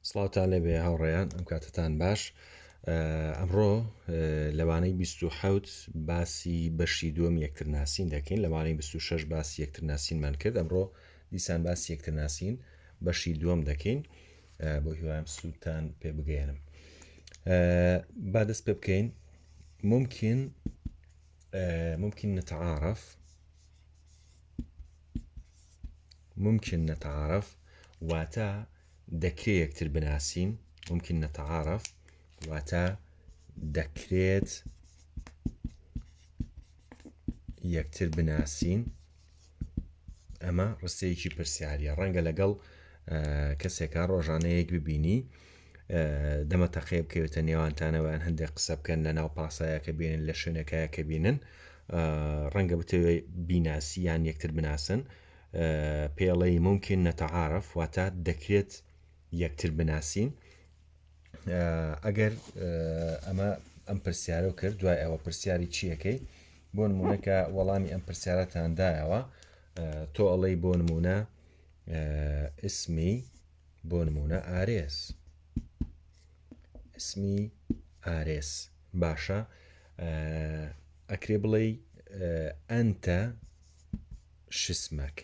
سڵاوتان لێبێ هاوڕێیان ئەم کاتتان باش ئەمڕۆ لەوانەی 20 باسی بەشی دووەم یەکترناسین دەکەین لەوانەی 26 باسی یەکترناسینمان کرد ئەمڕۆ دیسان باسی یەکترناسین بەشی دووەم دەکەین بۆ هیوایم سوودتان پێ بگەێنم با دەست پێ بکەین ممکن ممکن نتعاعرف ممکن نتعارف واتا دەکرێت یەکتر بناسین ممکن نتعارف واتا دەکرێت یەکتر بناسین ئەمە ڕستەیەکی پرسیارە ڕەنگە لەگەڵ کەسێکە ڕۆژانەیەک ببینی دەمە تەقەیە بکەوێتە نێوانتانەوەیان هەندێک قسە بکەن لە ناو پاسایەکە بێنن لە شوێنەکەیە کە بینن ڕەنگە بتەوێ بیناسی یان یەکتر بناسن پێڵەی ممکن نەتەعاعرف واتە دەکرێت یەکتر بناسین ئەگەر ئەمە ئەم پرسیارە کرد دوای ئەوە پرسیاری چیەکەی بۆ نمونونەکە وەڵامی ئەم پرسیارەتاندایەوە تۆ ئەڵەی بۆ نمونە اسمی بۆ نمونە ئارێز اسمی ئارێز باشە ئەکرێ بڵێ ئەتە شسمەک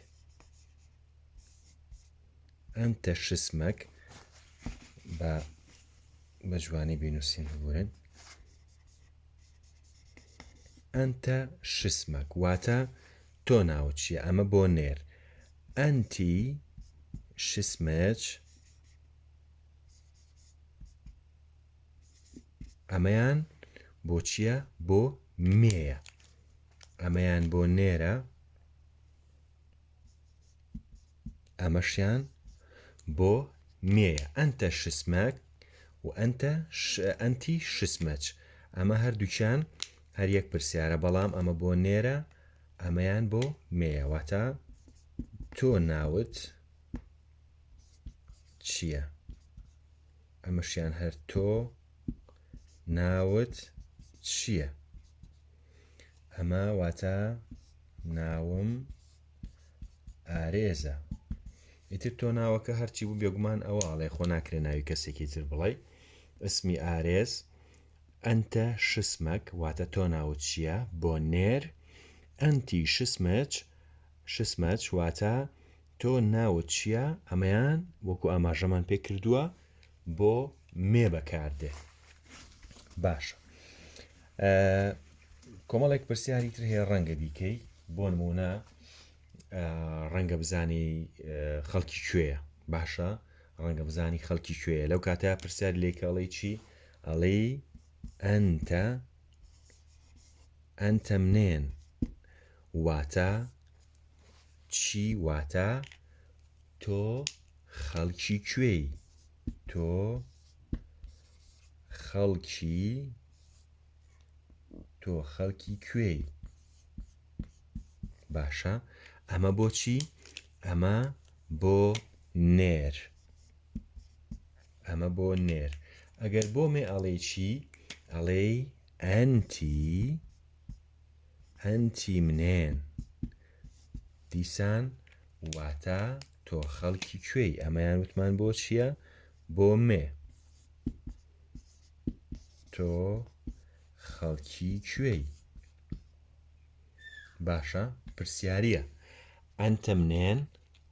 ئەتە شسمەک بە بە جوانی بینوسین ببورن ئەتە شسمەک واتە تۆ ناوت چیە ئەمە بۆ نێر ئەنتی شسمچ ئەمەیان بۆ چییە بۆ مێیە ئەمەیان بۆ نێرە ئەمەشیان بۆ مێیە ئەتە شسمەک و ئەتە ئەنتی شسمەچ ئەمە هەردووچان هەر یەک پرسیارە بەڵام ئەمە بۆ نێرە ئەمەیان بۆ مێیە واتە تۆ ناوت چییە ئەمەشیان هەر تۆ ناوت چییە ئەمە واتە ناوم ئارێزە ئیتر تۆ ناوەکە هەرچی بوو بێگومان ئەوە ئاڵێ خۆ ناکرێ ناوی کەسێکی تر بڵێ اسمی ئارێز انت شسمک واتە تۆ ناوت چییە؟ بۆ نێر انت شسمک شسمک واتە تۆ ناوت چییە؟ ئەمەیان وەکو ئاماژەمان پێ کردووە بۆ مێ بەکاردێ باشە کۆمەڵێک پرسیاری تر هەیە ڕەنگە بیکەی بۆ نمونە ڕەنگە بزانی خەڵکی کوێە باشە ڕەنگە بزانی خەڵکی کوێە لەو کاتە پرسیار لێکەڵی چی ئەڵێی ئەنتە ئەنتە منێن واتە چی واتە تۆ خەڵکی کوێی تۆ خەڵکی تۆ خەڵکی کوێی باشە ئەمە بۆچی ئەمە بۆ نێر ئەمە بۆ نێر ئەگەر بۆ مێ ئەڵێی چی ئەڵێی ئەنتی ئەنتی منێن دیسان واتە تۆ خەڵکی کوێی ئەمەیان وتمان بۆ چییە بۆ مێ تۆ خەڵکی کوێی باشە پرسیارە ئەنتە منێن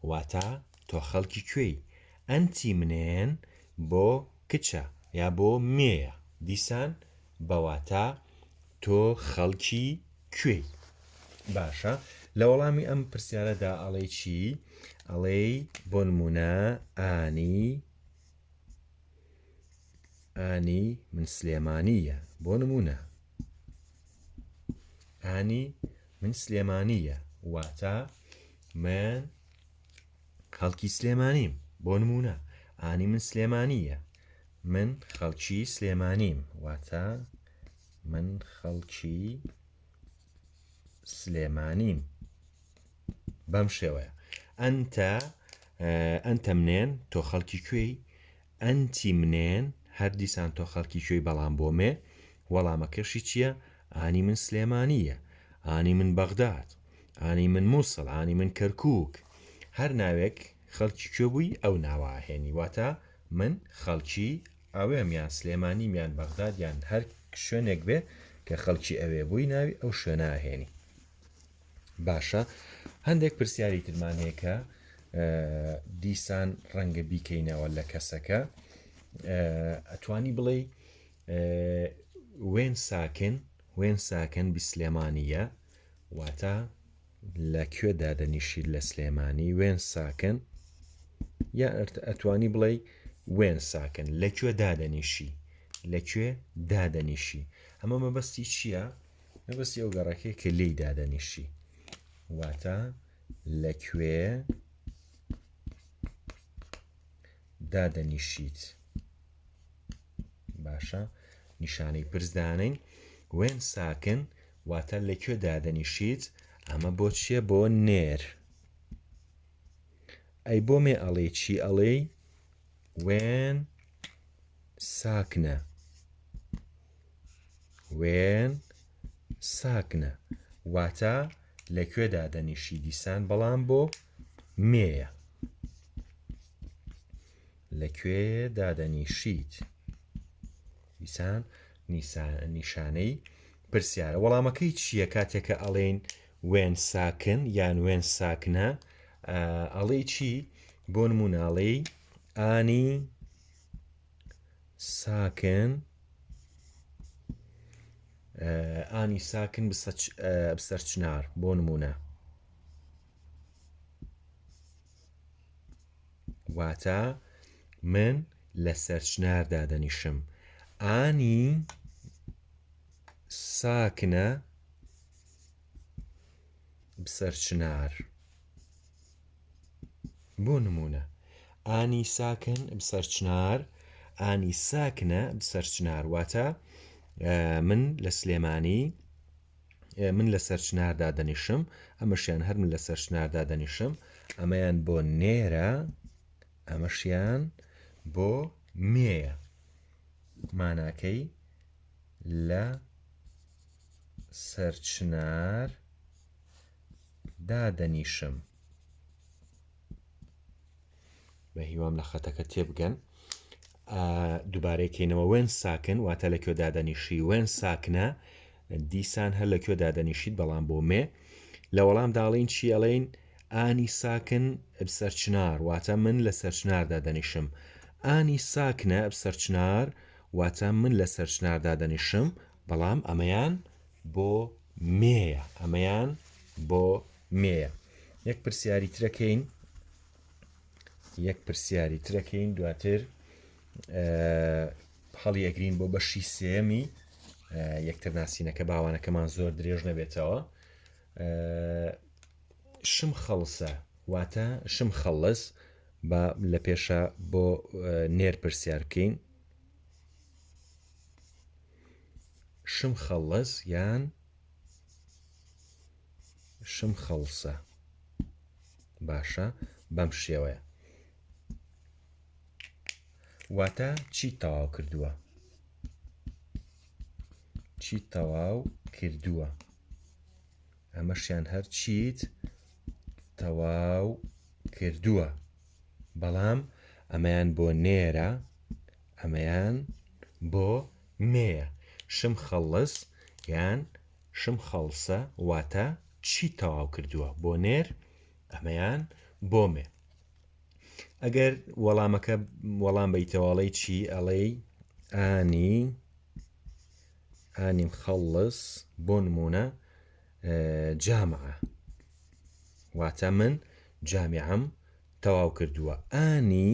واتا تۆ خەڵکی کوێی؟ ئەنتی منێن بۆ کچە یا بۆ مێیە دیسان بە واتا تۆ خەڵکی کوێی؟ باشە لە وەڵامی ئەم پرسیارەدا ئەڵێ چی ئەڵێی بۆ نمونە ئانی ئانی من سلێمانیە بۆ نمونە ئانی من سلێمانیە واتە من خەڵکی سلێمانیم بۆ نمونە ئانی من سلێمانیە من خەڵکی سلێمانیم واتە من خەڵکی سلێمانیم بەم شێوەیە ئەتە ئەتە منێن تۆ خەڵکی کوێی ئەنتی منێن هەر دیسان تۆ خەڵکی کوێی بەڵام بۆ مێ وەڵامەکەشی چیە ئانی من سلێمانی یە ئانی من بەغداد ئانی من موسڵ ئانی من کەرکوک هەر ناوێک خەڵکی کوێ بووی ئەو ناوە ئەهێنی واتە من خەڵکی ئەوێم یان سلێمانیم یان بەغداد یان هەر شوێنێک بێ کە خەڵکی ئەوێ بووی ناوی ئەو شوێنە ئەهێنی باشە هەندێک پرسیاری ترمان هەیە کە دیسان ڕەنگە بیکەینەوە لە کەسەکە ئەتوانی بڵێ وێن ساکن وێن ساکن بیسلێمانە واتە لە کوێ دادەنیشی لە سلێمانی وێن ساکن یا ئەتوانی بڵێ وێن ساکن لە کوێ دادەنیشی لە کوێ دادەنیشی ئەمە مەبەستی چییە؟ مەبەستی ئەو گەڕەکەی کە لێی دادەنیشی واتە لەکوێ دادەنیشیت باشە نیشانەی پرسدانین وێن ساکن واتە لەکوێ دادەنیشیت ئەمە بۆ چییە بۆ نێر ئەی بۆ مێ ئەڵێ چی ئەڵێی وێن ساکنە وێن ساکنە واتە لە کوێ دادەنیشی دیسان بەڵام بۆ مێە لە کوێ دادەنیشیت دیسان نیشانەی پرسیارە وەڵامەکەی چییە کاتێکە ئەڵێن وێن ساکن یان وێن ساکنە ئەڵێ چی بۆ نموناڵی ئانی ساکن ئانی ساکن بسەرچنار بۆ نمونە واتە من لە سەرچنار دادەنیشم ئانی ساکنە بسەرچنار. بۆ نموونە، ئانی ساکن بسەر چنار، ئانی ساکنە بسەر چنار، واتە، من لە سلێمانی، من لە سەر چناردا دەنیشم، ئەمەشیان هەر من لە سەر چناردا دەنیشم، ئەمەیان بۆ نێرە، ئەمەشیان بۆ مێیە، ماناکەی لە سەر چنار. دادەنیشم. بە هیوام لە خەتەکە تێبگەن دووبارەکەینەوە وێن ساکن واتە لە کوێ دادەنیشی وێن ساکنە دیسان هەر لە کوێ دادەنیشیت بەڵام بۆ مێ لە وەڵام داڵین چی ئەڵین ئانی ساکن سەرچنار واتە من لە سەرچناردا دەنیشم ئانی ساکنە سەرچنار واتە من لە سەرچناردا دەنیشم بەڵام ئەمەیان بۆ مێیە ئەمەیان بۆ مێیە یەک پرسیاری ترەکەین یەک پرسیاری ترەکەین دواتر هەڵی ئەگرین بۆ بەشی سێمی یەکتر ناسینەکە باوانەکەمان زۆر درێژ نەبێتەوە شم خەڵسە واتە شم خەڵس بە لە پێشە بۆ نێر پرسیار بکەین شم خەڵەس یان شم خەڵسە باشە بەم شێوەیە واتە چی تەواو کردووە چی تەواو کردووە ئەمەشیان هەر چیت تەواو کردووە بەڵام ئەمەیان بۆ نێرە ئەمەیان بۆ نێە شم خەڵس یان شم خەڵسە واتە چی تەواو کردووە بۆ نێر ئەمەیان بۆ مێ ئەگەر وەڵامەکە وەڵام بیتەواڵی چی ئەڵێی ئانی ئانی مخلص بۆ نمونە جامعە واتە من جامیعەم تەواو کردووە ئانی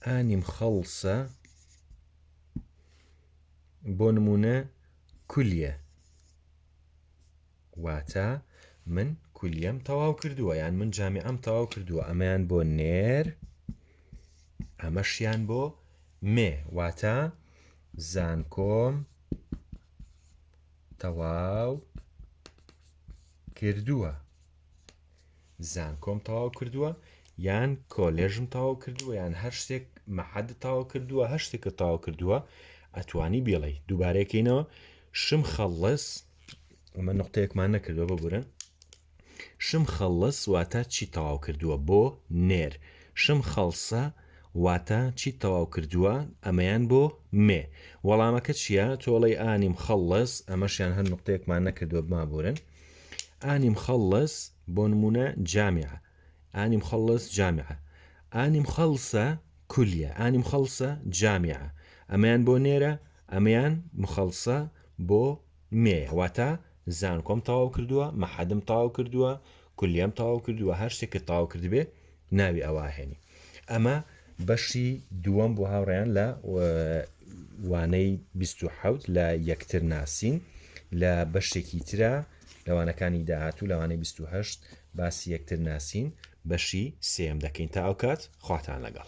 ئانیم خەڵسە بۆ نمونە کولیە واتە من کولیەم تەواو کردووە یان من جامی ئەم تەواو کردووە ئەمەیان بۆ نێر ئەمەشیان بۆ مێ واتە زانکۆم تەواو کردووە. زانکۆم تەواو کردووە یان کۆلێژم تەواو کردووە یان هەر شتێک مەحەد تاوا کردووە هەر شتێکە تاوا کردووە ئەتوانی بێڵی دووبارەکەینەوە شم خەڵس ئەمە نقطەیەکمان نەکردوە ببورن شم خەڵس واتە چی تەواو کردووە بۆ نێر شم خەڵسە واتە چی تەواو کردووە ئەمەیان بۆ مێ وەڵامەکە چییە تۆڵی ئانیم خەڵس ئەمەشیان هەر نقطەیەکمان نەکردوە بمابورن ئانی مخەڵڵەس، بۆ نموونە، جامعە. ئانی مخەڵڵەس جامعە. ئانی مخەڵسە کولیە. ئانی مخەڵسە جامعە. ئەمەیان بۆ نێرە، ئەمەیان مخەڵسە بۆ مێیە. واتە زانکۆم تەواو کردووە، مەحەدم تەواو کردووە، کولیەم تەواو کردووە، هەر شتێکت تەواو کردبێ، ناوی ئەوە ئەهێنی ئەمە بەشی دووەم بۆ هاوڕێیان لە وانەی 2020 لە یەکتر ناسین لە بەشێکی ترە لەوانەکانی داهاتوو لەوانەی 2020 باسی یەکتر ناسین بەشی سێم دەکەین تا ئەو کات خواتان لەگەڵ